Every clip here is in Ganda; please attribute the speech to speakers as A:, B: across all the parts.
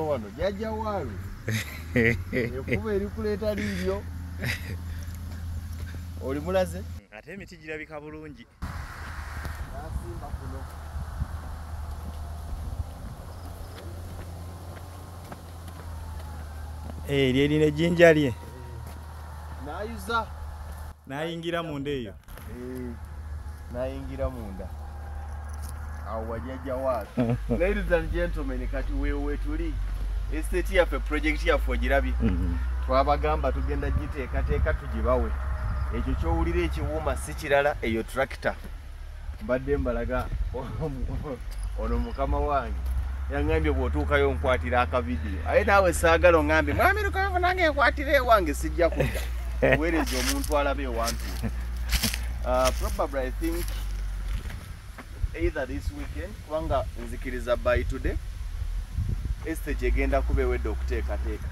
A: wano jajja waalu ekuba erikuleeta liiryo oli mulaze ate emiti girabika
B: bulungi
A: nasimba kuno
B: eh, eryo erina ejjinja lye
A: nayuza
B: nayingira munda eyo nayingira
A: munda awo wajaja waatu ladies and gentlemen kati wewetuli estate yaffe project yaffe ogirabye mm-hmm. twabagamba tugenda giteekateeka tugibawe ekyo kyowulira ekiwuuma si kirala eyo tractor mbadde mbalaga ono mukama wange yangambye bwotuukayo onkwatira akavidiyo aye naawe saagala ongambye mwami lukavu nange nkwatira ewange sijja kudda weereza omuntu alabe ewantu uh, probably i think either this weekend kubanga nzikiriza by today estage egenda kuba ewedde okuteekateeka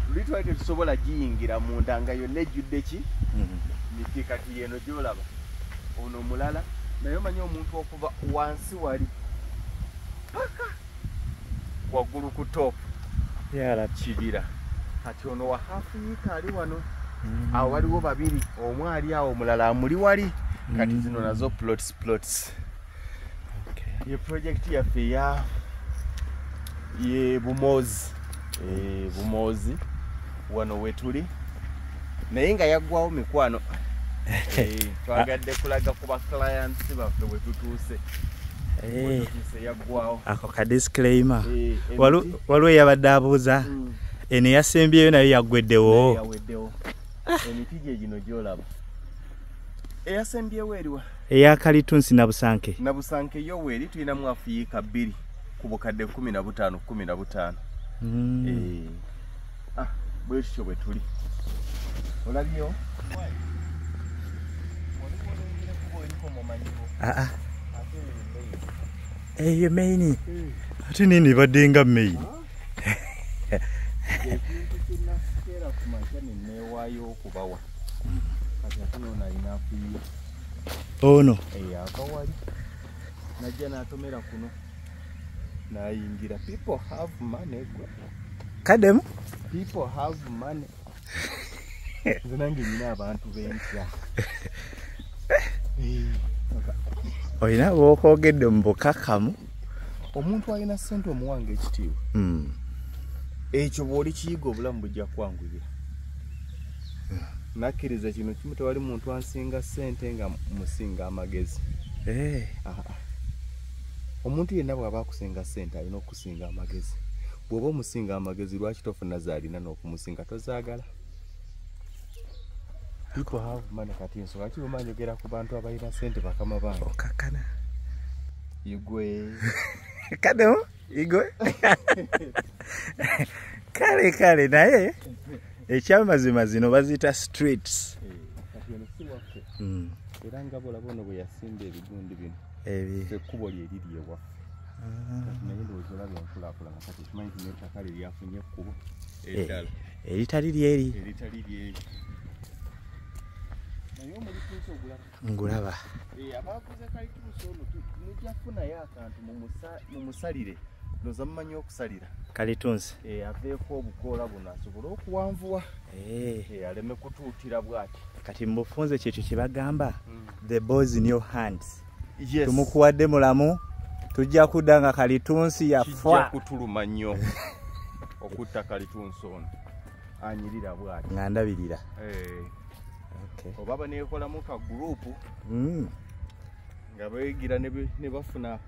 A: luli twali tetusobola giyingira munda nga yonna ejjudde ki mhm. miti kati yeno gyolaba ono mulala naye omanyi omuntu okuva wansi wali paka waggulu ku top kibira kati ono wa hafu yiika ali wano mm. awo waliwo babiri omu ali awo omulala amuli wali kati mm. zino nazo plots plots ye projekiti yaffe eya ye bumozi eh, bumoozi wano wetuli naye nga yaggwawo mikwano eh, twagadde kulaga ku baclients baffe wetutuuse eh. ako ka disclaimer
B: waliwo eyabadde abuuza mm. eno eyasembyeyo nayo yaggweddewo emiti
A: gye gino gyolaba eyasembyewo eriwa eya kalitunsi
B: nabusanke nabusanke
A: yo weeri tulinamu afuyiika bbiri ku bukadde kumi na butaano kumi na butaano mm. eh. ah, bwekityo bwe tuli olabyewo
B: ah, ah. eyo maini hmm. ate nini badde nga maini
A: ono
B: eh, akawali
A: najja natomera kuno nayingira people have money gwe kademu
B: people
A: have money nze nange nyina abantu bentya
B: olina bwokwogedde mu bukakamu omuntu
A: alina sente omuwanga ekitiibwa hmm. ekyo bwoli kiyiga obulamu bujja kwanguyira nakkiriza kino kimu tewali muntu ansinga sente nga musinga amagezi eh. omuntu yenna bwaba akusinga sente alina okusinga amagezi bwoba omusinga amagezi lwaki tofuna zaalina n'okumusinga tozaagala people have money kati ensonga lwaki bwemba njogera ku bantu abalina sente bakama bange okakana igwe
B: kano igwe kale kale naye ekyamazima zino baziyita streets eh,
A: hmm. era nga bolaba ono bwe yasimba ebigundi bino ekkubo lye liri ewaffe ah. naye ndowooza olaba enkulakulana kati ekimanyi ti nettaka lye lyafunye ekkubo eh. eddala eritali lyeri ngulaba eh, mumusalire noza mumanyi okusalira kalitunzi eh,
B: aveeko
A: obukoola buno asobole okuwanvuwa eh. aleme kutuutira bwati kati mubufunze
B: kyekyo kyebagamba mm. the boys in your hands yes. tumukuwadde
A: mulamu
B: tujja kudda nga kalitunsi yafwa kutuluma
A: nnyo okutta kalitunsi ono anyirira bwati nga ndabirira eh. oba banekolamu ka gurupu mm. nga beyigira ne bafuna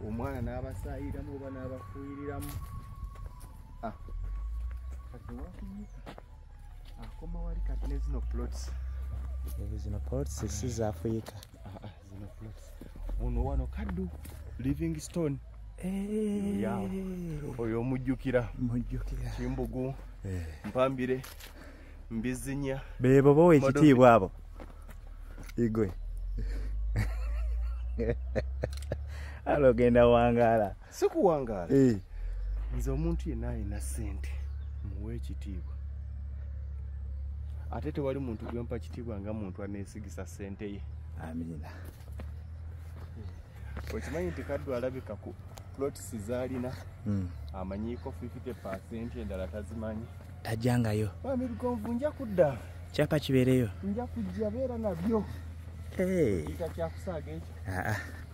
A: omwana n'abasayiramu oba n'abafuuyiriramu ah. akoma ah, wali kati ne zino plots ezo zino
B: plots si za afrika ah, ah, zino
A: plots ono wano kaddu living stone eh. oyo omujjukira kimbugu eh. mpambire mbizinya bebo bowa
B: ekitiibwa abo igwe alogenda wangaala sikuwangaala
A: eh. nze omuntu yenna alina ssente muwa ekitiibwa ate tewali muntu gwempa kitiibwa nga muntu aneesigisa ssente ye amiina okimanyi nti kaddu alabika ku plots zaalina hmm. amanyiiko 50 percent endala tazimanyi tajangayo
B: amirugonvu nja
A: kudda kyapa kibeereyo
B: nja kujja beera
A: nabyo eh. kyakusaaga ekyo ah, ah.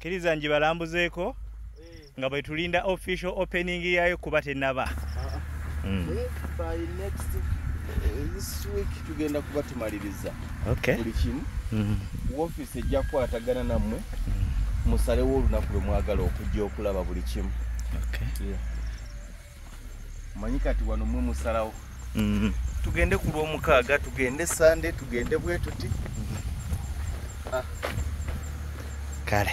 B: kiriza njibalambuzeeko nga bwetulinda official opening yayo kuba tenaba
A: ah, mm. eh, eh, tugenda kuba tumaliriza buli kimu mm-hmm. wofiisi ejja kukwatagana nammwe mm. musalewo olunaku lwe mwagala okujja okulaba buli kimu manyi kati wano mwe musalawo mm-hmm. tugende ku lwomukaaga tugende sande tugende bwetuti mm-hmm.
B: ah.
A: kale